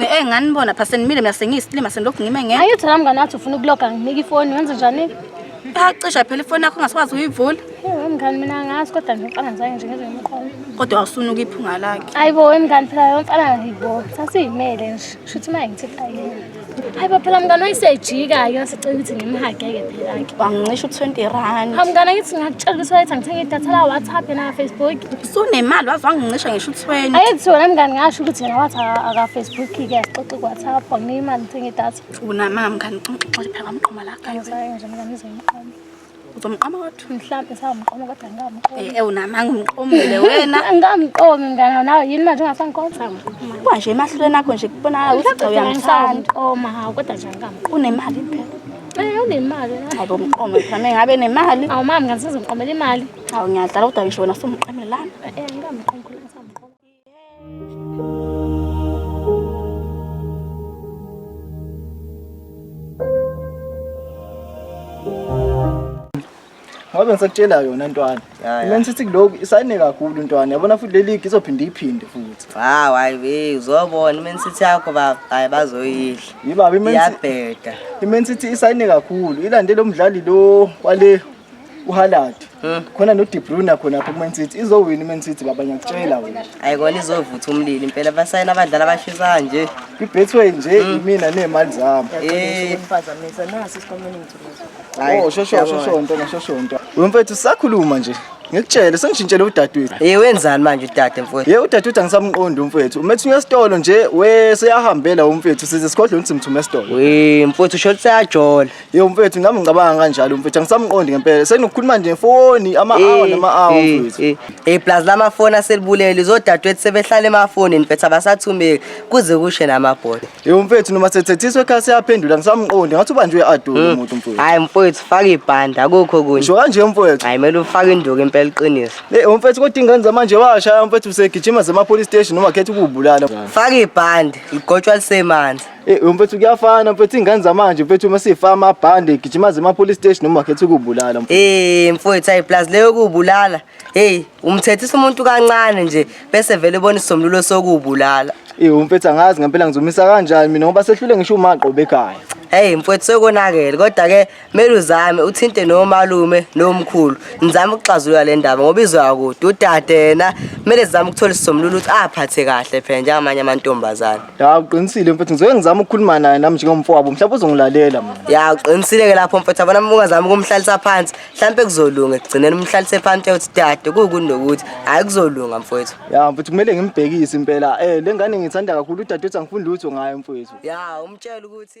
Eh ngani bona pha senimile mina sengiyisilima senilokhu ngime ngeke. Ayi uthana mngane wathi ufuna ukuloga nginika ifoni wenze njani? Cha cisha phela ifoni yakho ungasikwazi uyivula. Hey mngani mina ngazi kodwa nje mfana ngizange nje ngizwe umqondo. Kodwa awusuna ukuyiphunga lakhe. Ayibo wemngani phela yomfana ayibo. Sasiyimele nje. Shuthi maye ngithi ayini. Ayibo phela mngani oyisejika yo sicela ukuthi ngimhageke phela ke. Wangicisha u20 rand. Hamngani ngithi ngakutshela ukuthi wayethe ngithenge idatha la WhatsApp na Facebook. usunemali waze wangincisha ngisho u-20 ayethi wena mngani ngasho ukuthi yena wathi akafacebook-ke asixoxi ku-whatsapp anginika imali ngithenge idatha unamama mngani xixoxe phela wamqoma la kanye saye nje mngani izomqoma uzomqoma kodwa mhlawumbe sawumqoma kodwa ngingamqoma Eh, eh, unamanga umqomile wena angamqomi mngani nawe yini manje ungasangiqoma sawumqoma kuba nje emahlulweni akho nje kubonakala ukuthi Mhlawumbe cha uyamthanda ngisawumqoma hawu kodwa nje angamqoma unemali phela Eh, unemali hayi bo mqome phela mengabe nemali awumama mngani sizomqomela imali Hawu ngiyadlala kodwa ngisho wena sumqamile lana. Eh ngikamqonkulu ngisamqonkulu. Ngoba ngisakutshela yona ntwana. Ya, ya. Mina ngithi kuloku isayine kakhulu ntwana. Yabona futhi le league izophinde iphinde futhi. Hawu hayi we uzobona iMan City yakho baba hayi bazoyidla. Yibaba iMan City- Iyabheda. iMan City isayine kakhulu. Ilande lo mdlali lo wale uHalad khona no De Bruyne khona lapho kuMan City izowina iMan City baba ngiyakutshela wena hayi kona izovutha umlilo impela basayina abadlali abashisa kanje iBetway nje yimina nezimali zami eh phazamisa nasi isikomeni ngithukuza hayi oh shosho shosho nto ngashosho nto wemfethu sakhuluma nje ngikutshele sengishintshele udadewethu hey wenzani manje udade mfowethu hey udadewethu angisamqondi umfowethu umethi uyesitolo nje we seyahambela umfowethu size sikhodle ukuthi mthume esitolo we mfowethu usho ukuthi seyajola Yo mfethu nami ngicabanga kanjalo mfethu angisamqondi ngempela. Sekunokukhuluma nje ngefoni ama hour nama hour mfethu. Eh, eh, plus lama phone aselibulele izodadwethu sebehlala emafoni mfethu abasathumeki kuze kushe namabhola. Yo mfethu noma sethethiswe ekhaya siyaphendula ngisamqondi ngathi ubanje uyadola hmm. umuntu mfethu. Hayi mfethu faka ibhanda akukho kunye. Ngisho kanje mfethu. Hayi mele ufake induku impela iqiniso. Eh mfethu kodwa ingane zamanje washaya mfethu usegijima zema police station noma khetha ukubulala. Faka ibhanda ligotshwa lisemanzi. Eh mfethu kuyafana mfethu ingane zamanje mfethu uma sifa amabhande gijima zema police station noma khetha ukubulala. Eh mfethu ayi plus leyo kubulala. Hey umthethisa umuntu kancane nje bese vele ubona isomlulo sokubulala. Eh mfethu angazi ngempela ngizomisa kanjani mina ngoba sehlule ngisho umaqo bekhaya. Hey mfethu sekonakele kodwa ke Mele uzame uthinte nomalume nomkhulu nizame ukuxazulula le ndaba ngoba izwa kude udade yena mele zizame ukuthola isisombululo ukuthi aphathe kahle phela njengamanye amantombazane Ya uqinisile mfethu ngizoke ngizama ukukhuluma naye nami njengomfowabo mhlawumbe uzongilalela mina. ya uqinisile-ke lapho mfethu abona uma ungazama ukumhlalisa phansi mhlawumpe kuzolunga ekugcineni umhlalise phansi uthi dade kuwukundi nokuthi hhayi kuzolunga mfowethu Ya mfethu kumele ngimbhekise impela. Eh lengane ngithanda kakhulu udadewethu angifuni lutho ngayo mfethu. ya umtshele ukuthi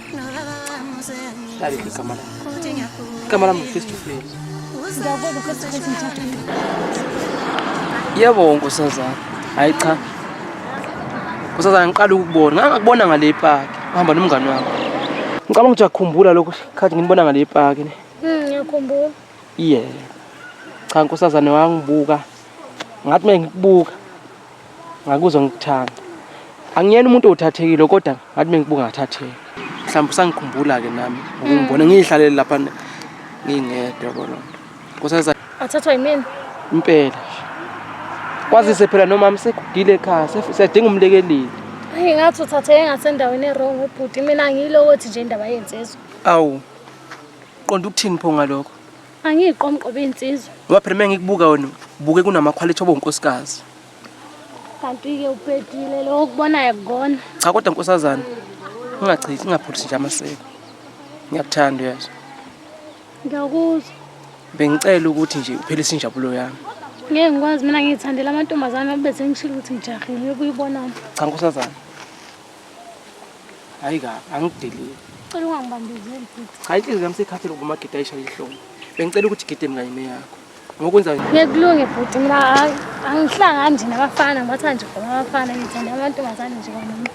Dali igama lami. Igama lami face to face. Yebo nkosazana. Hayi cha. Nkosazana ngiqala ukubona. Ngangakubona ngale park. Uhamba nomngane wakho. Ngicabanga ukuthi uyakhumbula lokho khathi nginibona ngale park ne. Mhm, ngiyakhumbula. Yeah. Cha nkosazana wangibuka. Ngathi mina ngikubuka. Ngakuzwa ngikuthanda. Angiyena umuntu othathekile kodwa ngathi mengikubuka ngathatheka. Mhlawumbe usangikhumbula ke nami ukungibona mm. ngihlalele lapha ngingedwa bona. Kusaza athathwa yimina. Impela. Kwazise phela nomama sekugile ekhaya siyadinga umlekeleli. Hayi ngathi uthatheke ngasendaweni ewrong ubhuti mina ngiyilo othi nje indaba yensizwa. Awu. Qonda ukuthini pho ngalokho? Angiyiqomqobe insizwa. Ngoba phela mengikubuka wena buke kunama quality obonkosikazi. Kanti ke uphetile lo okubonayo kugona. Cha kodwa nkosazana ungachithi ungaphulisi nje amaseko. Ngiyakuthanda uyezwa. Ngiyakuzwa. Bengicela ukuthi nje uphelise injabulo yami. Ngeke ngikwazi mina ngiyithandela amantombazana bese ngishilo ukuthi ngijahile uyibonana. Cha nkosazana. hayi ka angidelile cela ungangibambezeli bhuti hayi inhliziyo yami seyikhathele ukuba umagidi ayishaye ihlombe bengicela ukuthi gide mina yime yakho ngokwenza ngekulunge bhuti mina angihlangani nje nabafana ngibatha nje khona abafana ngithanda amantombazane nje kwanoma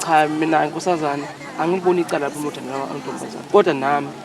cha mina nkosazana angiboni icala lapho umuntu antombazane kodwa nami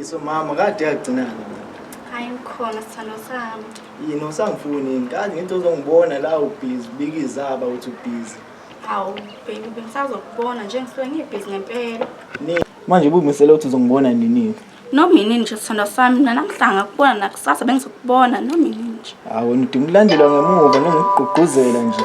Iso mama kade yagcinana. Hayi ngikhona sithando sami. Yini usangifuni yini? Kazi ngithi uzongibona la ubhizi ubika izaba uthi ubhizi. Hawu baby bengisazokubona nje ngisuke ngibhizi ngempela. Ni manje ubumisele ukuthi uzongibona nini? Noma yini nje sithando sami mina namhlanga kubona nakusasa bengizokubona noma yini nje. Hawu nidinga ukulandelwa ngemuva nongikugqugquzela nje.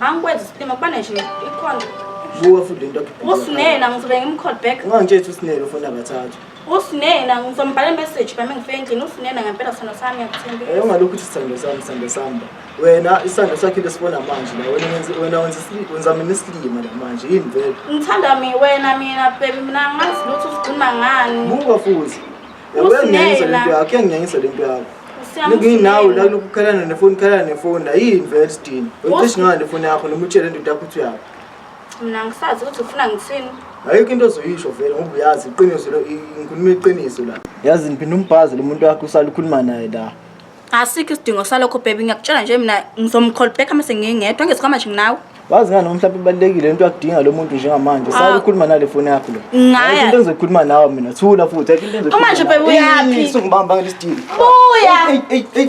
Angikwenzi isilima kubane nje ikhona. Buka futhi lento. Usinena ngizobe ngimcall back. Ungangitshela usinena ufuna bathathu. Usinena ngizombhala message bami ngifike endlini usinena ngempela sithando sami ngiyakuthemba. Eh ungalokhu uthi sithando sami sithando sami. Wena isithando sakhe lesibona manje la wena wenza wena wenza wenza mina isilima la manje yini vele. Ngithanda mina wena mina baby mina ngazi lutho usikhuluma ngani. Buka futhi. Usingenza lento yakho, uyangenza lento yakho. Nginawo la lokukhalana nefoni, khalana nefoni, ayini vele sidini. Uyicishe ngayo nefoni yakho noma utshele ndoda yakho ukuthi uyaphi. Mina ngisazi ukuthi ufuna ngithini. Ayikho into ozoyisho vele ngoba uyazi iqiniso lo inkulumo iqiniso la. Yazi niphinda umbhazi lo muntu wakho usala ukhuluma naye la. asikho isidingo salokho baby ngiyakutshela nje mina ngizomcall back uma sengingedwa ngesikhwama nje nginawe wazi ngani mhlawumbe ibalulekile into yakudinga lo muntu njengamanje sala ukhuluma nale foni yakho lo Ngaya. into engizokhuluma nawe mina thula futhi ayikho into engizokhuluma Uma nje nawe. baby uyaphi? Ey, ey, sungibamba ngalesi dili buya Ey, ey, ey.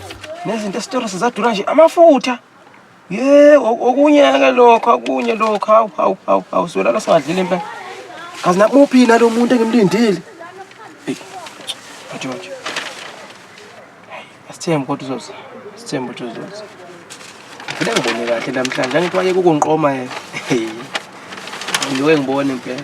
nezinto esitora sizadura nje amafutha ye okunye-ke lokho okunye lokho hawu hawu hawu hawu siwelala singadlile impela kazi nakuphi nalo muntu engimlindile eyi ajojo asithembe kodwa uzoza asithembe ukuthi uzoza ngifele ngibone kahle namhlanje angithi wayeke ukungiqoma yena ngiwe ngibone impela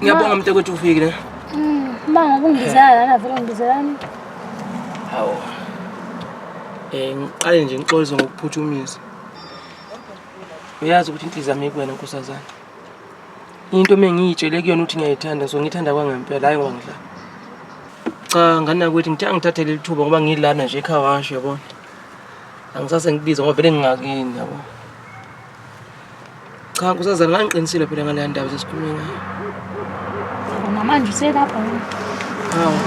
Ngiyabonga mntakwethu ufikile. Mm, mama ubungibizela lana vele ngibizelani? Hawu. Eh ngiqale nje ngixolise ngokuphuthumisa. Uyazi ukuthi inhliziyo yami kuwena nkosazana. Into mengiyitshele kuyona ukuthi ngiyayithanda so ngithanda kwangempela hayi ngongidla. Cha ngana ukuthi ngithe angithathele lithuba ngoba ngilana nje ekhaya washo yabona. Angisase ngibiza ngoba vele ngingakini yabona. Cha nkosazana ngangiqinisile phela ngaleya ndaba sesikhulume ngayo. Namanje uselapha yini? Hawu.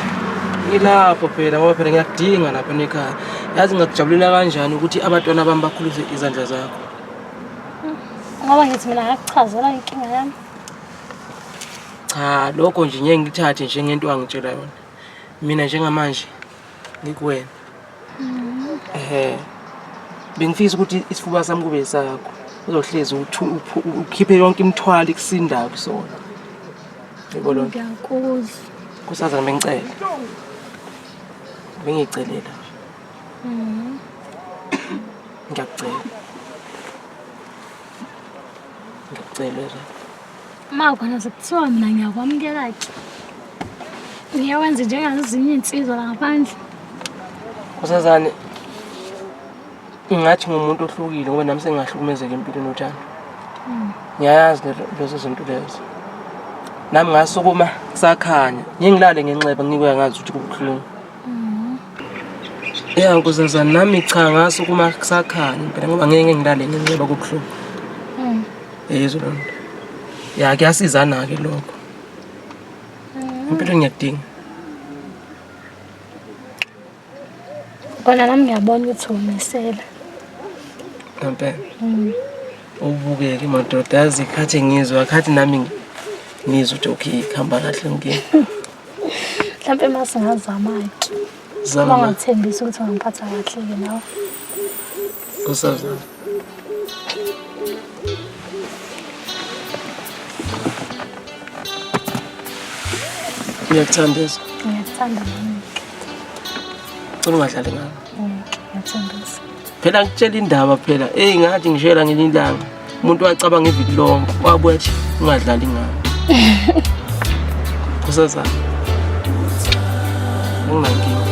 Ngilapho phela ngoba phela ngiyakudinga lapha nekhaya. Yazi ngakujabulela kanjani ukuthi abantwana bami bakhulise izandla zakho. Ngoba ngithi mina ngakuchazela inkinga yami. Cha lokho nje ngeke ngithathe njengento angitshela yona. Mina njengamanje ngikuwena ehe bengifisa ukuthi isifuba sami kube sakho uzohlezi uthu- uphu- u- ukhiphe yonke imithwalo ikusindayo kusona yebo lona ngiyakuzwa kusazana bengicela bengiyicelela ngiyakucela ngiyakucela Ezra. Uma khona sekuthiwa mina ngiyakwamukela-ke. Ngiyawenza njengazinye iy'nsizwa la ngaphandle. Kusazane ngathi ngumuntu ohlukile ngoba nami sengingahlukumezeka empilweni uthando. Hmm. Ngiyayazi lezo zinto lezo. Nami ngasukuma kusakhanya. Ngingilale ngenxeba ngikuya ngazi ukuthi kubuhlungu. ya kuzaza nami cha ngaso kuma kusakhanya phela ngoba ngeke ngilale ngenxeba kobuhlungu hmm. yezwa loo nto ya kuyasizana-ke lokho hmm. impilo ngiyakudinga kona nami ngiyabona ukuthi umisela ngempela hmm. ubukeke madoda yazi khathi ngizwa khathi nami ngizwa ukuthi okay kuhamba kahle ngike mhlawumpe uma singazama-ke zama ungathembisa ukuthi ungiphatha kahle-ke nawe usazama ngiyakuthanda eso ngiyakuthanda nami cela ungadlali ngami phela ngitshela indaba phela eyi ngathi ngishela ngenye ilanga umuntu wacabanga iviki lonke wabuya thi ungadlali ngayo kusazana nginankinga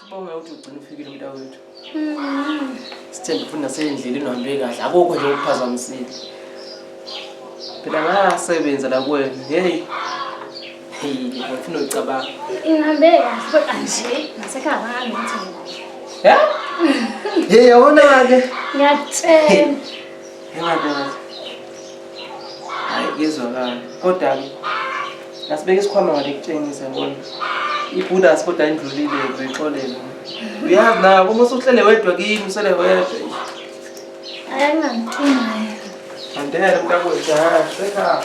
Sibonge ukuthi ugcina ufikile umntakwethu. Mm-hmm. Sithembe futhi nasendleleni uhambe kahle. Akukho nje okuphazamisile. Phela ngasebenza la kwenu. Hey. Hey, ngifuna ucabanga. Ingabe kahle kanje nasekhaya ngithini. Yeah? Hey, yabona ke. Ngiyatshela. Ngiyabonga. Hayi kuyezwakala. Kodwa ke nasibeka isikhwama ngale kutshengisa bona ibhudas kodwa indlulile uyixolele. Uyazi na uma usuhlele wedwa kimi usele wedwa. Ayangangithumayo. Andele mntakwethu, ha, sekhaya.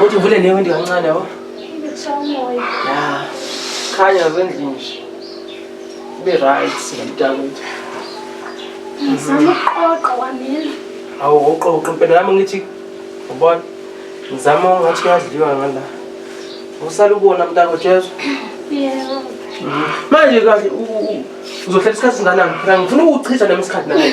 Uthi uvule ne window kancane yabo. Ya. Khanya zendlini nje. Be right singamtakuthi. Ngizama ukuqoqa wamina. Awu uqoqa impela nami ngithi ubona ngizama ngathi kuyadliwa ngala. Usala ubona mntako Jesu. Yebo. Manje kahle uzohlela isikhathi singanani? Ngifuna ukuchitha nami isikhathi nawe.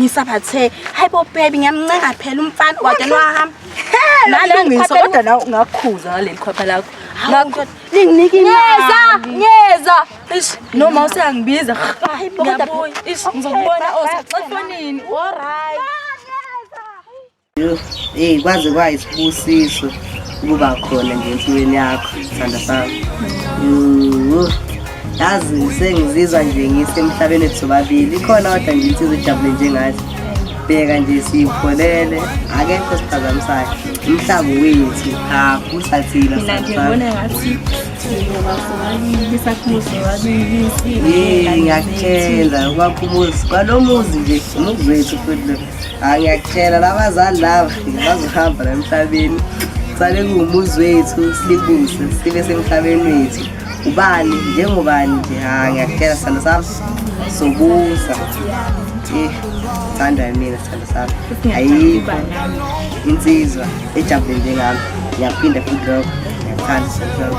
ngisabathe hayi bo baby ngiyamncenga phela umfana wade nwahamba nalengisa kodwa nawe ungakhuza ngaleli khwapha lakho ngakho linginike imeza ngeza ish noma useyangibiza hayi bo kodwa ish ngizokubona osaxafonini all right Hey kwaze kwayisibusiso ukuba khona nje empilweni yakho sithanda sami. Yazi sengizizwa nje ngisemhlabeni wethu sobabili ikhona kodwa nje insizwa ejabule njengathi bheka nje siyipholele akekho siphazamisayo umhlaba wethu hakho usathina mina nje ngibona ngathi ngiyakutshela ubakhumuzi kwalo muzi nje umuzi wethu futhi angiyakutshela labazali laba bazohamba la emhlabeni sale kuwumuzi wethu silibuse sibe semhlabeni wethu ubani njengobani nje ha ngiyakutshela sithando sami sobusa eh thanda mina sithando sami ayikho insizwa ejabule njengami ngiyaphinda futhi lokho ngiyakuthanda sithando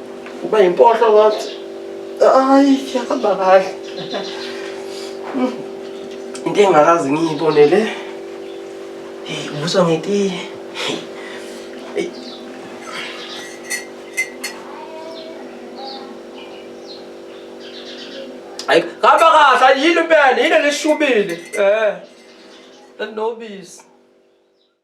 Uba yimpohlo ngathi. Hayi, yahamba kahle. Into engakazi ngiyibone le. Hey, ubuso ngetiye. Hey. Hayi, hamba kahle, yini impela, yini leshubile. Eh. Nobisi.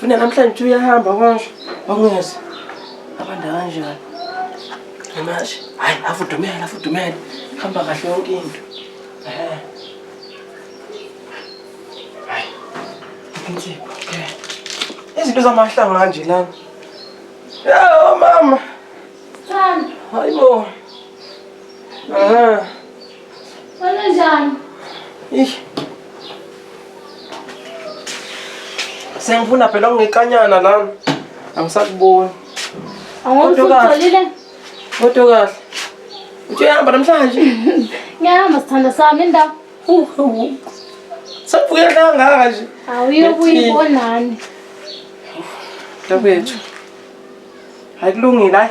Funa namhlanje uyahamba konje. Ongeze. Abanda kanjani? Namashi. Hayi, afudumele, afudumele. Hamba kahle yonke into. Eh. Hayi. Insipho. Okay. Eh. Izinto zamahlanga kanje lana. Yawo mama. Thando. Hayibo. Aha. Wena njani? Ish. Sengifuna phela ungikanyana lana. Angisakuboni. Awungitholile? Kodwa kahle. Uthi uyahamba namhlanje? Ngiyahamba sithanda sami indawo. Sabuya kangaka nje. Awuyokuyibonani. Ntakwethu. Hayi kulungile hayi.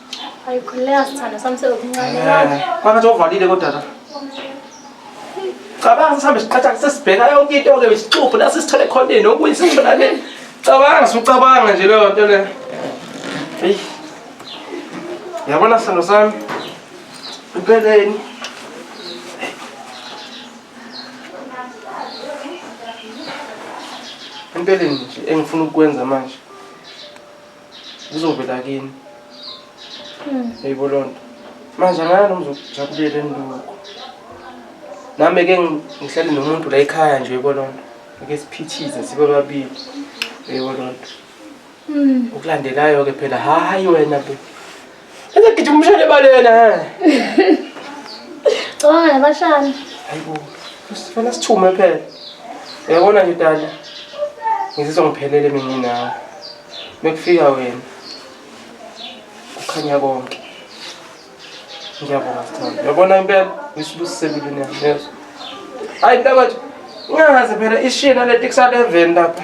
Ayikhuleka sithando sami sekuncane. Eh, phakathi ovalile kodwa la. Cabanga sihambe siqatha sesibheka yonke into ke isixubhu la sisithole khona ini okuyi sithola le. Cabanga sucabanga nje leyo nto le. Hey. Yabona sithando sami. Impeleni. Impeleni nje engifuna ukwenza manje. zizovela kini hmm. eyibo loo nto manje angaya noma uzokujabulela enilukho nami ke ngihlale nomuntu la ekhaya nje eyibo loo nto ake siphithize sibe babili eyibo loo nto hmm. ukulandelayo-ke phela hhayi wena be Ese gijima umshane ebaleni he. Cabanga nabashana. Hayibo. Sifana sithume phela. Uyabona nje dala. Ngizizwa ngiphelele mina nginawe. Mekufika wena. Kukhanya konke. Ngiyabonga sithando. Uyabona impela ngisibusise empilweni yami. Yezwa. Hayi mntakwethu. Ungangaze phela ishiye naleti kusaleveni lapha.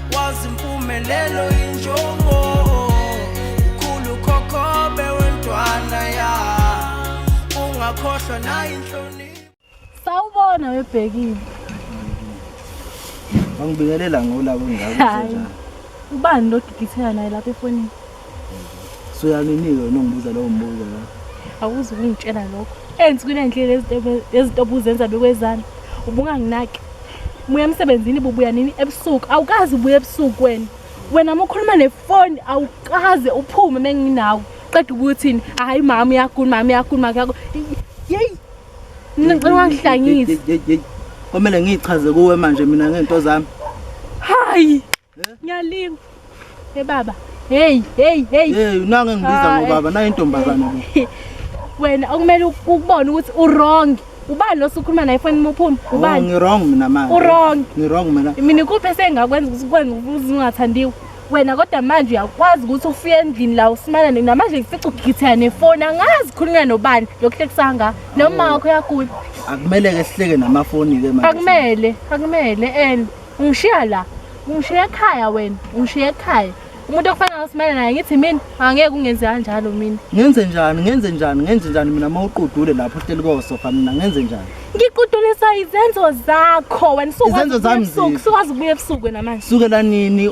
wazi impumelelo injongo ukhulu khokhobe wentwana ya ungakhohlwa nayo inhlonipho sawubona webhekile bangibingelela ngola kunjalo ubani lodiditheka naye lapha efonini so yaninike wena ongibuza lowo mbuzo la awuzi ukungitshela lokho enzi kunendlela ezinto obuzenza bekwezana ubunganginaki muya emsebenzini bubuya nini ebusuku awukazi ubuya ebusuku wena wena uma ukhuluma nefoni awukaze uphume uma nginawe qeda ukuthini hhayi mama uyagula mama uyagula makuyako yeyi mina ngicela ungangihlangisi kwamele ngiyichaze kuwe manje mina ngento zami hayi Ngiyalinga. Hey baba. Hey, hey, hey. Hey, unange ngibiza ngobaba, nayo intombazane lo. Wena okumele ukubone ukuthi u wrong. Ubani lo sukhuluma naye foni muphume? Oh, Ubani? Ngi wrong mina manje. U wrong. Ngi wrong mina. Mina kuphi sengakwenza ukuthi kwenza ukuthi ungathandiwe. Wena kodwa manje uyakwazi ukuthi ufike endlini la usimana nina manje ngifica ugithela nefoni angazi khulunywa nobani lokuhlekisanga noma wakho yagula. Akumele ke sihleke namafoni ke manje. Akumele, akumele and ungishiya la ungishiya ekhaya wena ungishiya ekhaya umuntu okufanele usimele naye ngithi mina angeke ungenze kanjalo mina ngenze njani ngenze njani ngenze njani mina uma uqudule lapho uhleli kosofa mina ngenze njani ngiqudulisa izenzo zakho wena Izenzo zami ziphi? sukwazi ukubuya ebusuku wena manje sukela nini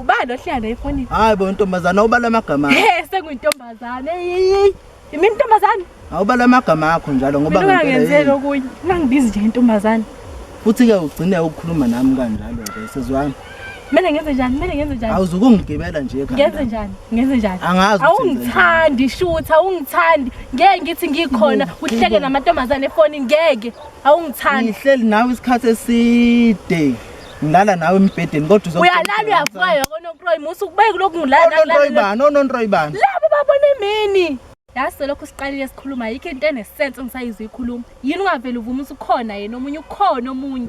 Ubani ohlala naye efonini? Hayi bo ntombazana ubala amagama. He senguyintombazana. Hey yimi intombazana. Awubala amagama akho njalo ngoba ngempela. Ngingenzela okunye. Ngangibizi nje intombazana. Futhi ke ugcine ukukhuluma nami kanjalo ke sezwani. Mina ngenze njani? Mina ngenze njani? Awuzukungigibela nje ekhaya. Ngenze njani? Ngenze njani? Angazi. Awungithandi shutha, awungithandi. Ngeke ngithi ngikhona, uhleke namantombazane efonini ngeke. Awungithandi. Ngihleli nawe isikhathi eside. ngilala nawe embhedeni kodwa uzo uyalala uyavuka yonke onontroyi musa ukubeke kulokhu ngilala onontroyi bani onontroyi bani labo babona imini yase lokho siqalile sikhuluma yikho into enesense ngisayizwa ikhuluma yini ungavele uvume ukuthi ukhona yena omunye ukhona omunye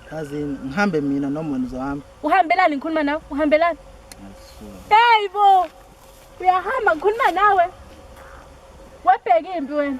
kazi ngihambe mina noma wena uzohamba uhambelani ngikhuluma nawe uhambelani hey bo uyahamba ngikhuluma nawe wabheka impi wena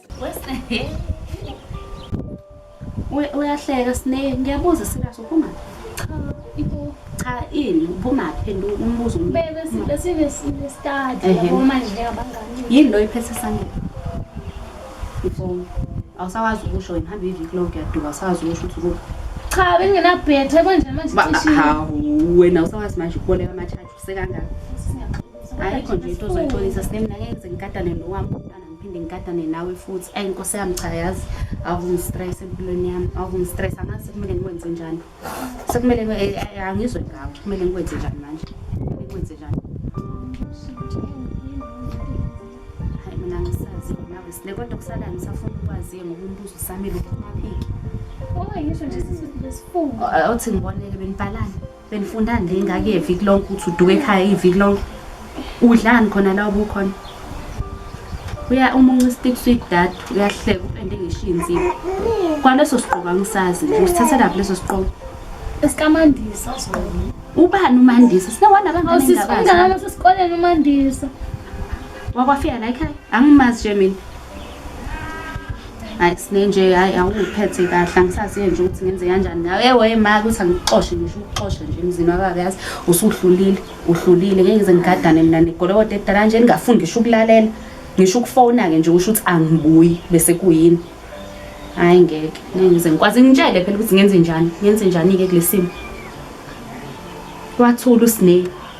uyahleka sine ngiyabuza serious uphuma cha ibo cha ini uphuma phenduka umbuzo bebe sibe sibe sibe start yabo manje njengabangani yini lo iphethe sangeni ifoni awusawazi ukusho wena hamba iviki lonke yaduka awusawazi ukusho ukuthi ukuphi cha benginabhethe konje manje hawu wena usawazi manje ukuboleka ama-charge usekangaka ayikho nje into ozoyixolisa sinemna ngeke ngize ngikatane nowami ngiphinde ngigadane nawe futhi ayi nkosi yami cha yazi awungistress empilweni yami awungistress angazi sekumele ngikwenze njani sekumele eh, eh, angizwe ngawe kumele ngikwenze njani manje kumele ngikwenze njani hayi mina ngisazi nawe sile kodwa kusalayo ngisafuna ukwaziye ngoba umbuzo usamile kumaphiki oyi ngisho nje sisifungo awuthi ngiboneke benibhalani Benifunda nje ingake yeviki lonke ukuthi uduke ekhaya iviki lonke. Udlani khona la ubukhona? Uya umunca istick sweet dad uyahleka upende ngishinzi. Kwaleso siqoka ngisazi nje usithatha laphi leso siqoka. Esikamandisa sona. Ubani uMandisa? Sinewana abangani Awusisi engabazi. umngane wasesikoleni uMandisa. Wakwafika la ekhaya? Angimazi nje mina. hayi sinenje hayi awungiphethe kahle angisaziyo nje ukuthi ngenze kanjani nawe ewe ma ukuthi angikuxoshe ngisho ukuxoshe nje emzini wababa yazi usuhlulile uhlulile ngeke ngize ngigadane mina negolokoda edala nje ningafundi ngisho ukulalela ngisho ukufona-ke nje usho ukuthi angibuyi bese kuyini hayi ngeke ngeke ngize ngikwazi ngitshele phela ukuthi ngenze njani ngenze njani-ke kule simo wathula usinei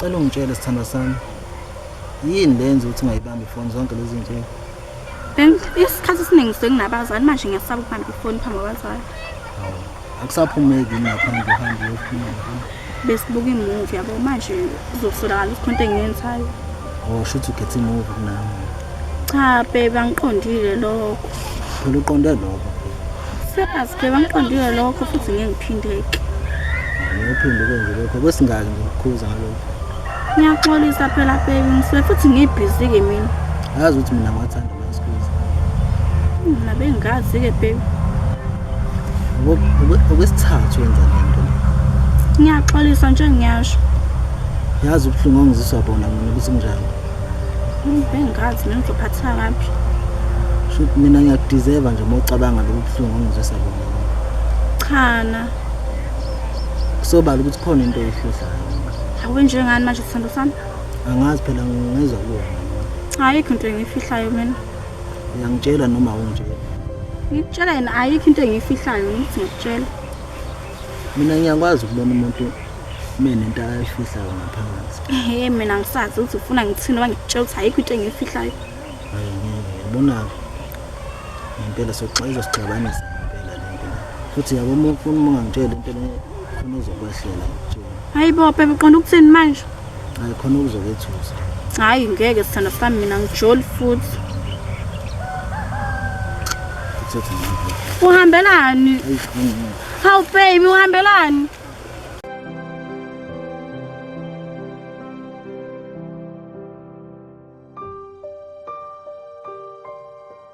Cela ungitshele sithandwa sami. Yini lenza ukuthi ngayibambi phone zonke lezi zinsuku? Ben, isikhathi esiningi senginabazali manje ngiyasaba ukubamba ifoni phambi kwabazali. Awu, akusaphumeki ngaphandle uhambe uyofuna. besibuka imuvi yabo manje kuzosolakala ukuthi khonto engiyenzayo oh shuthi ukhetha imuvi kunami cha bebe angiqondile lokho phela uqonde lokho sepas bebe angiqondile lokho futhi ngeke ngiphindeke ngiyophinde ukwenze lokho kwesingaki ngikukhuza ngalokho ngiyaxolisa phela bebe ngisuke futhi ngibhizi-ke mina yazi ukuthi mina ngiwathanda masikuza mina bengazi-ke bebe okwesithathu wenza le nto ngiyaxolisa nje ngiyasho yazi ubuhlungu ongiziswa bona mina ukuthi kunjani bengazi mina ngizophathisa ngaphi shuthi mina ngiyakudizeva nje uma ucabanga lobu buhlungu ongizwisa bona chana kusobala ukuthi khona into eyihludlayo awenjengani manje sithando sami angazi phela ngezwa kuwona ayikho into engiyifihlayo mina Uyangitshela noma awungitsheli? Ngikutshela yena ayikho into engiyifihlayo ngithi ngikutshela. Mina ngiyakwazi ukubona umuntu mina into ayifihlayo ngaphakathi. Ehhe mina ngisazi ukuthi ufuna ngithini noma ngikutshela ukuthi ayikho into engiyifihlayo. Hayi ngeke yabona-ke ngempela soxa izosixabanisa ngempela le nto le. Futhi yabo uma ufuna uma ungangitsheli into le khona ezokwehlela ngikutshela. Hayi bo bhebe uqonda ukuthini manje? Hayi khona ukuzokethusa. Hayi ngeke sithanda sami mina ngijoli futhi. Uthatha nami. Uhambelani? Ayi khona. Hawu baby uhambelani?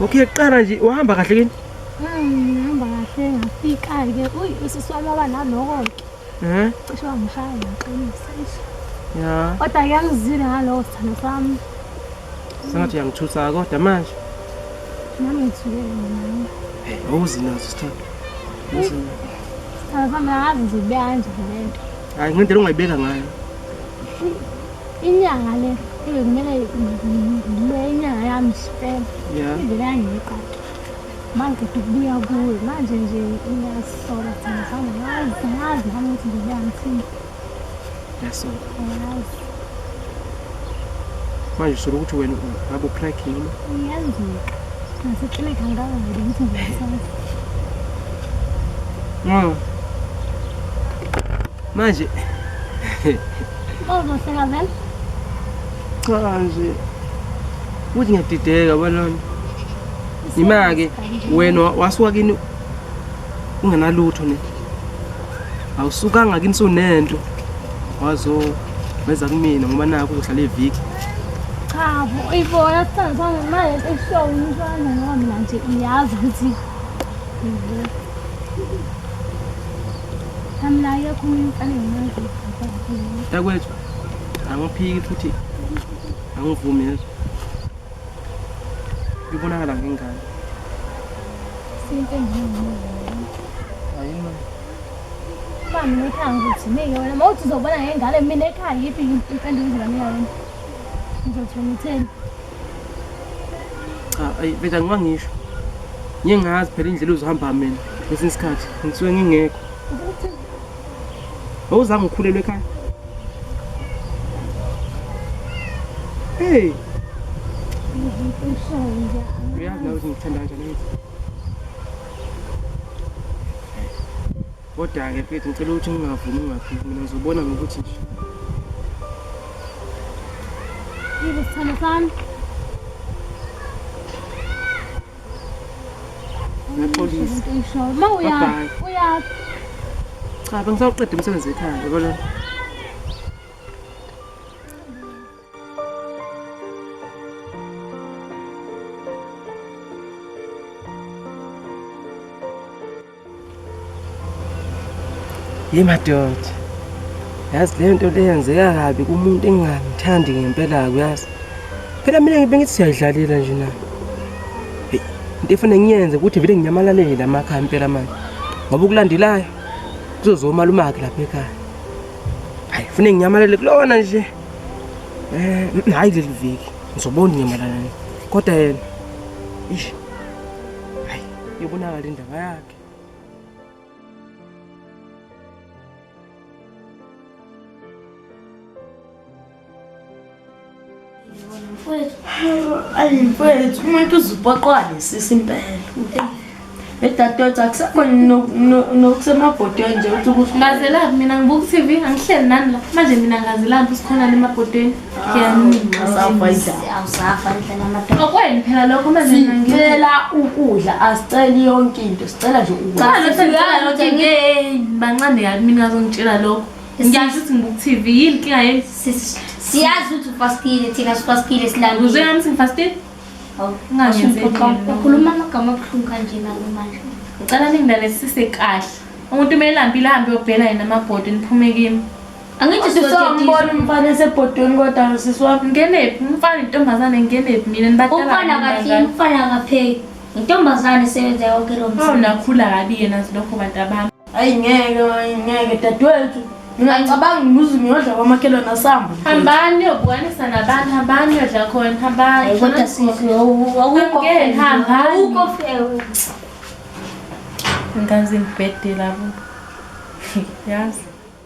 Okay kuqala nje uhamba kahle kini? Ngihamba kahle ngafika ke. Uy usiswami waba naloko ke. Eh? Cishe wangishaya ngaqinisa. Ya. Kodwa yangizile ngalowo sithando sami. Sengathi yangithutha kodwa manje. Nami ngithule mina. Hey, awuzinazo sithando. Uzina. Sithando sami ngazi nje kuyanje lento. Hayi ngendlela ongayibeka ngayo. inyanga le kumele ngibe inyanga yami sipele ivele yangiqaqa manje kuthi kubuya kuwe manje nje iyasola thina sami ngazi ngazi nami ukuthi ngibuya ngithini yasola ngazi manje usola ukuthi wena ngabe ucracking noma iyenzeka naseklinika ngikazi ukuthi ngiyasazi manje ozohleka vele cha nje ukuthi ngiyadideka balona yima-ke wena wasuka kini ungenalutho ne awusukanga kini sunento wazo weza kumina ngoba nakho uzohlala eviki chabo uyibona sithandisana naye eshow umntwana ngoba mina nje uyazi ukuthi Takwethu angiphiki futhi angivumi yezwa. Ibonakala ngengane. Ayima. Uba mina ekhaya ngizothi meke wena mawuthi uzobona ngengane mina ekhaya yiphi impendulo engizobamika yona. Ngizothi wena utheni? cha ayi vele angiba ngisho ngeke ngazi phela indlela uzohamba mina ngesinye isikhathi ngisuke ngingekho wawuzange ukhulelwe ekhaya hey uyazi nawe ukuthi ngikuthanda kanjani Kodwa-ke mfethu ngicela ukuthi ungavumi ungaphiki mina ngizobona ngokuthi nje Yebo sithando sami. Ngiyaxolisa. Into oyishoyo. Uma uya Bye-bye. uya cha bengisawuqeda umsebenzi ekhaya yabo lona Hey madoda. Yazi le nto le yenzeka kabi kumuntu engingamthandi ngempela kuyazi. Phela mina ngibe ngithi siyayidlalela nje na. Hey, into efanele ngiyenze ukuthi vele nginyamalalele la makhaya impela manje. Ngoba ukulandelayo kuzozoma lumaki lapha ekhaya. Hayi, fune nginyamalele kulona nje. Eh, mm, hayi leli viki. Ngizobona inyamalala. Kodwa yena. Ish. yobonakala indaba yakhe ayi mfethu umuntu uzupoqwa lesisi impela edadewethu akusekhona nokusemabhodweni nje ukuthi ukuthi ngazelaphi mina ngibuka u-tv angihleli nani la manje mina ngazelaphi sikhona le emabhodweni okwenu phela lokho mazisicela ukudla asiceli yonke into sicela nje ukudlabancane kabi mina azongitshela lokho ngiyasho ukuthi ngibuk-tv yini nkinga yeni siyazi ukuthi ufastile thina sifastile silanguzeami singifastile ungakhuluma amagama abuhlungu kanje nalo manje ngicela ningilalesise kahle umuntu uma elampile ahambe yobhela yena amabhodi niphume kimi angithi sisambona umfana esebhodweni kodwa sisi wami ngenephi umfana intombazane ngenephi mina nibaumfana kathi umfana kapheki intombazane sebenza yonke lo msebenzi nakhula kabi yena silokho bantu abami ayi ngeke ayi ngeke dadewethu ngingacabanga nguze ngiyodla kwamakhelwane asamba hambani yobukwanisa nabantu hambani yodla khona hambani kodwa sisi awukho awukho fewe ngaze ngibhedela bo yazi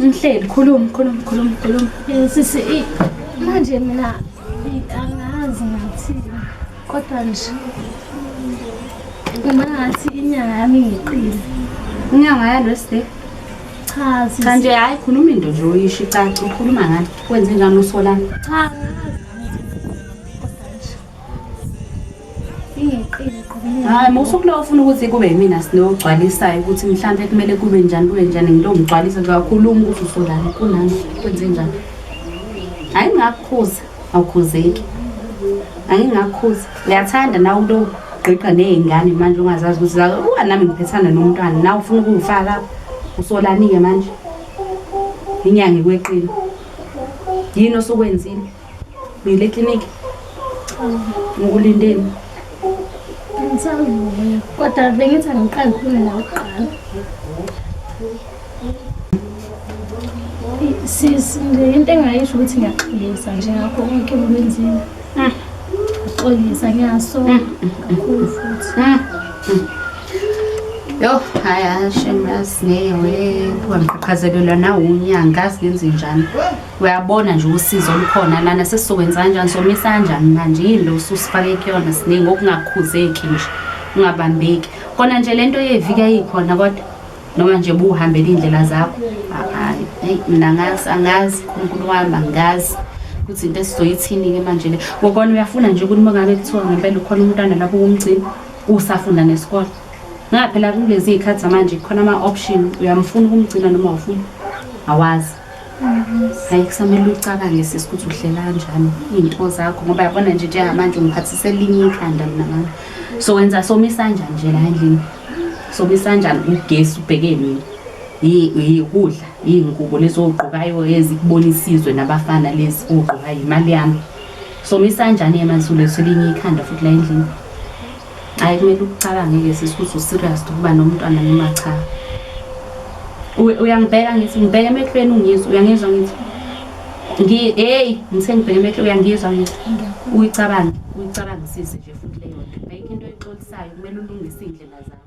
Mhleli khuluma khuluma khuluma khuluma. Eh, sisi manje mina angazi ngathi kodwa nje uma ngathi inyanga yami ngiqile. Inyanga yalo sisi. Cha sisi. Cha nje hayi khuluma into nje uyisho icaca ukhuluma ngani kwenze njani usolana. Cha hayi musukulowo ufuna ukuthi kube yimina sinogcwalisayo ukuthi mhlawumbe kumele kube njani kube njani ngilomgcwalisa kakhuluma ukuthi usolani kunami kwenze njani hayi ngingakukhuza awukhuzeki angingakukhuza ngiyathanda nawe into ogqigqa ney'ngane manje ungazazi ukuthi uwa nami ngiphethana nomntwana nawe ufuna ukungifaka usolani-ke manje inyanga ikweqile yini osukwenzile Uyile ekliniki? Ngikulindeni. Ngisavuya. Kodwa bengithi angiqali khona la kuqala. Sisi, nje into engayisho ukuthi ngiyaxolisa nje ngakho konke okwenzile. Ah. Ngiyaxolisa ngiyasola kakhulu futhi. Ah. Yo, haya shemras ngeke we, kuhamqhaqhazelelwa nawunyanga, ngazi ngenze njani. uyabona nje usizo olukhona lana sesizokwenza kanjani somisa kanjani manje yini lo ususifake kuyona siningi okungakhuzeki nje ungabambeki kona nje le nto yevika yikhona kodwa noma nje buhambela iy'ndlela zakho hayi eyi mina angazi angazi unkulu wami angazi ukuthi into esizoyithini-ke manje le ngokona uyafuna nje ukuthi uma ngabe kuthiwa ngempela ukhona umntwana lapho kumgcina usafunda nesikole ngaphela kulezi y'khathi zamanje khona ama-option uyamfuna ukumgcina noma awufuni awazi hayi kusamele ucabange sisi ukuthi uhlela kanjani iy'nto zakho ngoba yabona nje njengamanje ungiphathise elinye ikhanda mina mama so wenza somisa njani nje la endlini somisa njani ugesi ubheke mina yikudla iy'ngubo lezi ogqokayo ezikubona isizwe nabafana lezi ogqokayo imali yami somisa njani emansulethu elinye ikhanda futhi la endlini Hayi kumele ukucabange-ke sisi ukuthi userious ukuba nomntwana noma cha. U- Uyangibheka ngithi ngibheke emehlweni ungizwa uyangizwa ngithi ngi hey ngithe ngibheke emehlweni uyangizwa ngithi uyicabange uyicabangisise nje futhi leyo nto ayikho into oyixolisayo kumele ulungise iy'ndlela zakho.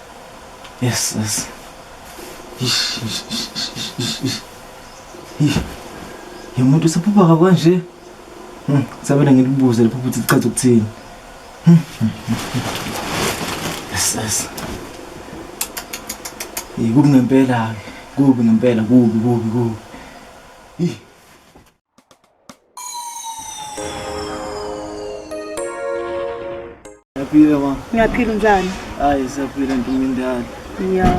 Yes, yes. Ish, ish, ish, ish, ish, ish. Ish. Ye muntu usephupha ka kanje. Hmm, sabela ngilibuze liphupha ukuthi lichaza ukuthini. Hmm. Yes, yes. Yikubi ngempela ke. Kubi ngempela, kubi, kubi, kubi. Ish. Ngiyaphila ma. Ngiyaphila unjani? Hayi siyaphila ntomindala. Ya.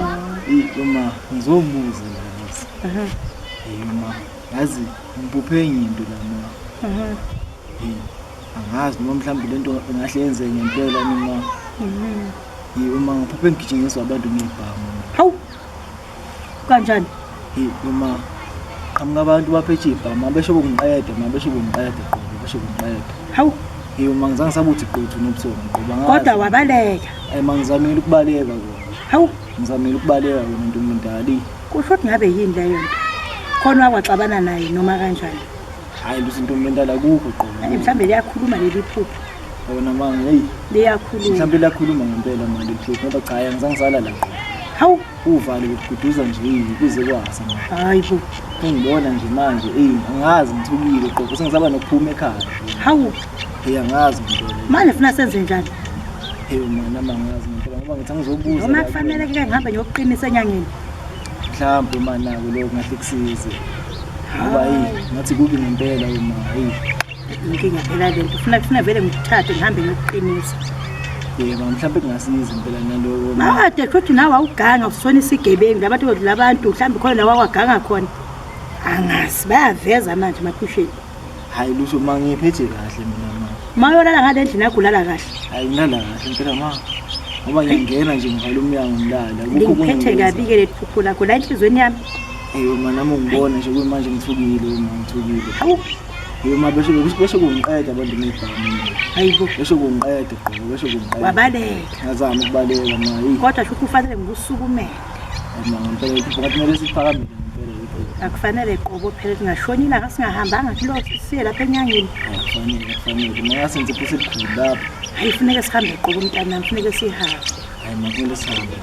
Yiko ma, ngizomuza la boss. Aha. Hey ma, yazi ngibuphe enye into la ma. Aha. Hey, angazi noma mhlawumbe lento ingahle yenze ngempela mina. Mhm. Yiko ma, ngiphuphe ngigijinyiswa abantu ngebhamu. Hawu. kanjani hey mama qhamuka abantu bapha ejibha mama besho kungiqede mama besho kungiqede qobo besho kungiqede hawu hey uma ngizange sabuthi qothu nobuthongo ngoba ngazi kodwa wabaleka eh mangizamile ukubaleka kodwa hawu ngizamile ukubaleka wena ntombi omdala kusho ukuthi ngabe yini leyo nto khona wakwaxabana naye noma kanjani hayi luthi ntombi omdala kukho qobo mhlawumbe liyakhuluma leli phupho yona mama heyi liyakhuluma mhlawumbe liyakhuluma ngempela mali liphupho ngoba cha angizange sala la hawu Uvale ukududuza nje yini kuze kwasa manje. Hayi bo. Engibona nje manje eyi angazi ngithukile qobo sengisaba nokuphuma ekhaya. Hawu. Hey angazi ngibona. Manje funa senze njani? Hey manje amangazi ngempela ngoba ngithi angizobuza. Noma kufanele ke ngihambe ngiyokuqinisa enyangeni. Mhlawumbe manje nako lokho ngahle kusize. Ngoba hey ngathi kubi ngempela uma hey. inkinga phela le nto funa kufuna vele ngithathe ngihambe ngiyokuqinisa yebo mhlawumbe kungasiza impela naloko made futhi nawe awuganga usona isigebengu labantu kodwa labantu mhlawumbe khona nawe awaganga khona angazi bayaveza manje makusheni hayi lusho ma ngiphethe kahle mina ma ma yolala ngale ndlini yakho ulala kahle hayi ngilala kahle impela ma ngoba ngiyangena nje ngivala umnyango ngilala kukho kungiphethe kabi-ke leli phupho lakho la enhliziyweni yami eyo ma nami ungibona nje kuyimanje ngithukile ma ngithukile Uma bese bese kungiqeda abantu ngibhami. Hayibo. Bese kungiqeda gqobo bese kungiqeda. Wabaleka. Ngazama ukubaleka mayi. Kodwa sho kufanele ngikusukumele. Mina ngempela ukuthi kumele siphakamile ngempela ukuthi. Akufanele qobo phela singashonina ngasingahambanga kulo siye lapha enyangeni. Akufanele akufanele. Maya senze phese kukhulu lapha. Hayi funeka sihambe qobo mntanami funeka sihambe. Hayi makumele sihambe.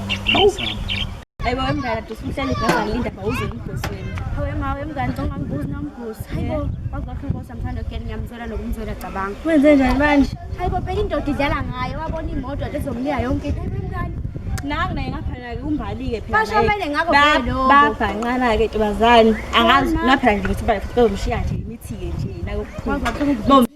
Sihambe. Ayibo wemngane dusu uhleli igama linda bawuze umgosi wenu. Hawe ma wemngane canga ngibuzi nomgosi. Hayibo wazokho inkosi amthanda kuyena ngiyamzwela nokumzwela cabanga. Wenze njani manje? Hayibo phela indoda idlala ngaye wabona imoto ezomnika yonke into. Hayibo wemngane nangu naye ngaphana ke umbalike phela basho mele ngakho phela babhanqana ke tubazani angazi naphela nje ukuthi bafike umshiya nje imithi ke nje nayo bomshiya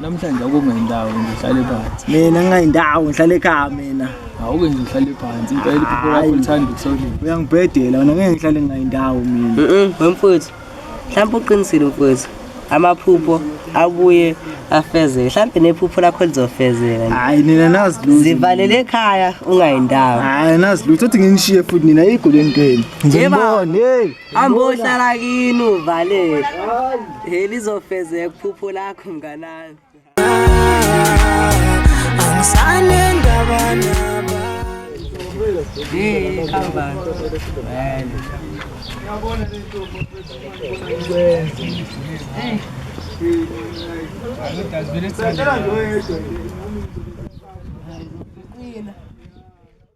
Namhlanje akungendawo nje uhlale phansi. Mina ngingendawo ngihlale ekhaya mina. Awuke nje uhlale phansi impela iphupho lakho lithanda ukusolile. Uyangibhedela wena ngeke ngihlale ngingendawo mina. Mhm, wemfowethu. Mhlawumbe uqinisile mfowethu. Amaphupho abuye afezeke. Mhlawumbe nephupho lakho lizofezeka nje. Hayi nina nazi lutho. Zivalele ekhaya ungayendawo. Hayi nazi lutho uthi nginishiye futhi nina igoleni kweni. Ngizonibona hey. Ambohlala kini uvalele. Hey lizofezeka iphupho lakho mnganami. Angisane ndaba naba. Hey khamba. Yabona lento mfethu. Hey. Hey. Hey.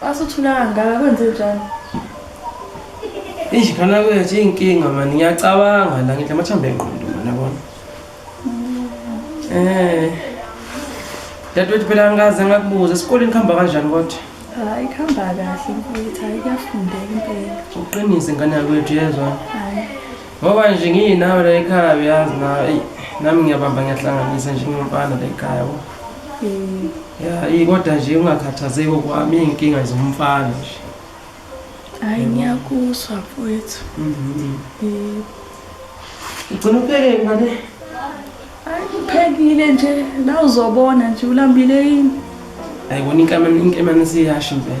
Basuthula kangaka kwenze njani? Eish khona kwethu inkinga mani ngiyacabanga la ngithi amathambo engqondo mani yabona. Eh. Dadewethu phela ngikaze ngakubuza esikoleni kuhamba kanjani kodwa? Hayi kuhamba kahle mfowethu, hayi kuyafundeka impela. Uqinise ngane yakwethu yezwa. Hayi. ngoba nje ngiyinawe la ekhaya uyazi na eyi nami ngiyabamba ngiyahlanganisa njengomfana la ekhaya bo Mm. ya iyi kodwa nje ungakhathazeki okwami iy'nkinga zomfana nje Hayi ngiyakuzwa mfowethu. Mhm. Mm. ugcina upheke ngane Hayi uphekile nje la uzobona nje ulambile yini. ayibona inkemane inkemane siyasho impela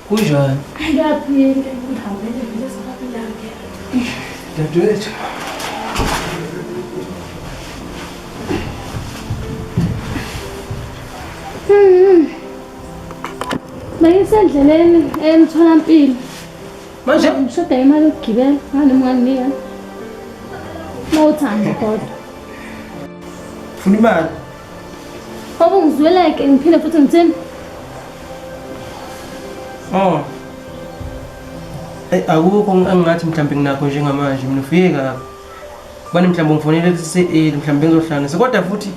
Kunjani? Ngiyaphila ngihambele vele sababilake. Dadewethu. Mayisendleleni emtholampilo. Manje ngishoda imali yokugibela ngani mwanginika. Mawuthanda kodwa. Funa imali. Baba ngizweleke ngiphinde futhi ngithini? Oh. Hey, akukho engingathi mhlawumbe nginakho njengamanje mina ufike kabi. Bani mhlawumbe ngifonele kuse eh mhlawumbe ngizohlanganisa kodwa futhi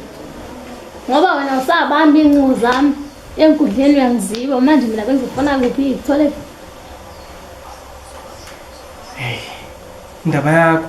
ngoba wena usabamba inqubo zami enkundleni uyangiziba manje mina bengizofuna kuphi ngithole indaba yakho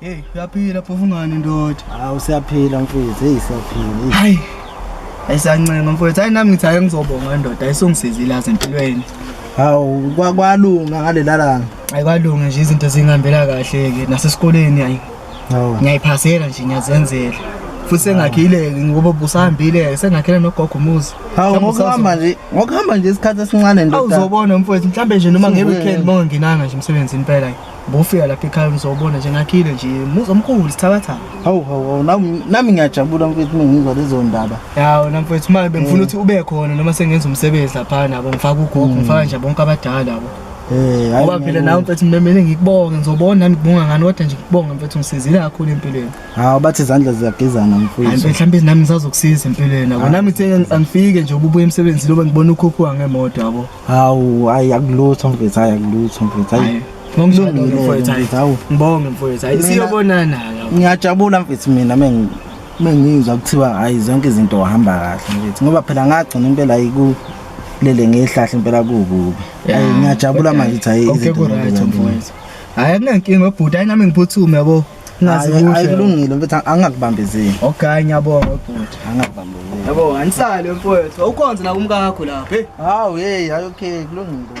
Hey, uyaphila phofu ngani ndoda? Ah usiyaphila mfethu, hey siyaphila. Hayi. Ayisancenga mfethu, hayi nami ngithi ake ngizobonga ndoda, ayisongisizile aze empilweni. Hawu kwalunga ngalelala. Ayikwalunga nje izinto zingihambela kahle ke nasesikoleni ayi ngiyayiphasela nje ngiyazenzela futhi sengakhile ngoba busahambile sengakhele nogogo umuzi hawu ngokuhamba nje ngokuhamba nje isikhathi esincane ndoda awuzobona mfowethu mhlambe nje noma ngeweekend bongenanga nje umsebenzi impela bofika lapha ekhaya uzobona nje ngakhile nje muzi omkhulu sithabatha hawu hawu nami ngiyajabula mfowethu ngizwa lezo ndaba yawo na mfowethu manje bengifuna eh. ukuthi ube khona noma sengenza umsebenzi lapha nabo ngifaka ugogo hmm. ngifaka nje bonke abadala labo Eh, hayi ngoba phela nawe mfethu ngimemele ngikubonge ngizobona nami kubonga ngani kodwa nje ngikubonge mfethu ngisizile kakhulu empilweni hawu bathi izandla ziyagezana mfethu hayi mhlawumbe nami ngisazokusiza empilweni yabo nami ngithe angifike nje ububuye emsebenzini loba ngibona ukhuphuka ngemoto yabo hawu hayi akulutho mfethu hayi akulutho mfethu hayi ngibonge mfowethu hayi siyobonana ngiyajabula mfethu mina mengizwa kuthiwa hayi zonke izinto wahamba kahle mfethu ngoba phela ngagcina impela ayiku lele ngehlahle impela kukubi Yeah. Ayi, ngiyajabula manje ukuthi hayi konke izinto ku-right zenzeka mfowethu nje. hhayi akunankinga obhuti hayi nami ngiphuthume yabo nazi Ayi, ayi, kuhle kulungile mfethu ang- angakubambezeli okay ngiyabonga obhuti angakubambezeli yabo anisale mfowethu awukhonze nakumkakho lapho heyi hawu yeyi hayi okay kulungile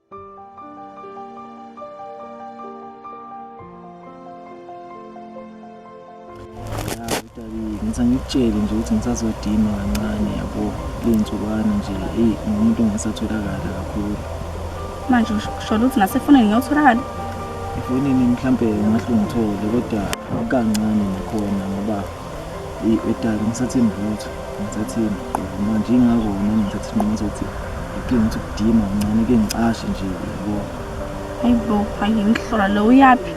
ngithi angikutshele nje ukuthi ngisazodima kancane yabo ley'nsukwana nje eyi ngumuntu ongasatholakala kakhulu manje sholo ukuthi nasefonini ngiyotholakala efonini mhlawumbe ungahle ungithole kodwa kancane nakhona ngoba Eyi edala ngisathembi lutho, ngisathembi qobo manje ingakho nami ngithatha isinqumo sokuthi ngidinga ukuthi ukudima kancane ke ngicashe nje yabo. Hayi bo, hayi ngihlola lo uyaphi?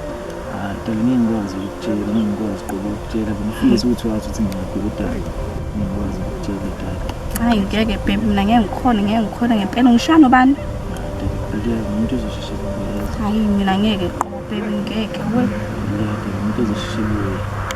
Hayi dala ngeke ngikwazi ukutshela, ngeke ngikwazi qobo ukutshela bengifisa ukuthi wazi ukuthi ngiyaphi kodwa ngeke ngikwazi ukutshela dala. Hayi ngeke baby mina ngeke ngikhone, ngeke ngikhone ngempela ngishaya nobani? Dala umuntu uzosheshe kubuye. Hayi mina ngeke qobo baby ngeke we. Dala umuntu uzosheshe kubuye.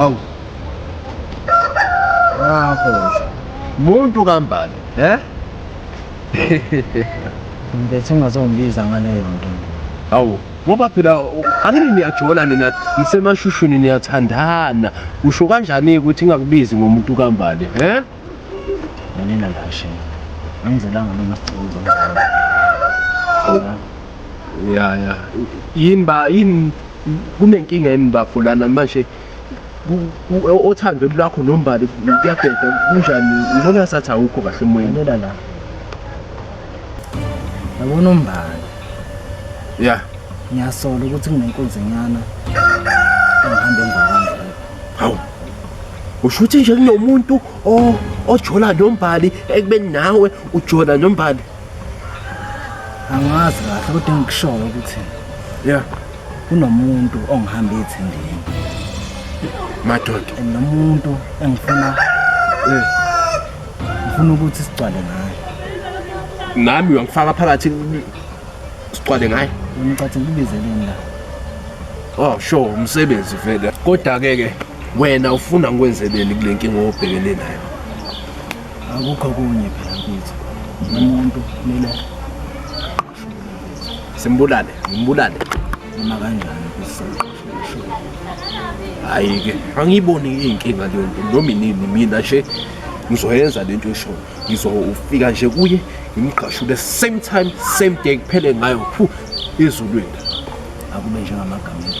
Awu. Ngakho. Muntu kambani, eh? Ngibethe ungazongibiza ngaleyo nto. Hawu, ngoba phela angini niyajola nina nisemashushuni niyathandana. Usho kanjani ukuthi ingakubizi ngomuntu kambali, eh? Nina ngashe. Angizelanga mina sicela uzongizwa. ya ya yini ba yini kunenkinga yini bafo lana manje othandweni lwakho nombali kuyabheda kunjani ngibona ngasathi awukho kahle emoyeni lela la yabona umbali ya ngiyasola ukuthi kunenkunzi nyana engihambe ngakho hawu usho ukuthi nje kunomuntu ojola nombali ekubeni nawe ujola nombali angazi kahle kodwa engikushoyo ukuthi ya kunomuntu ongihamba ethindini madoda and nomuntu engifuna eh, ngifuna ukuthi sigcwale ngaye nami uyangifaka phakathi sigcwale ngaye ngicathe ngibizeleni la oh sho umsebenzi vele kodwa ke ke wena ufuna ngikwenzeleni kule nkinga obhekene nayo akukho kunye phela mfethu umuntu kumele simbulale ngimbulale noma kanjani hayi ke angiyiboni iyinkinga leyo nto noma inini mina nje ngizoyenza le nto eshoyo ngizofika nje kuye ngimgqashule same time same day kuphele ngayo phu ezulwini akube njengamagama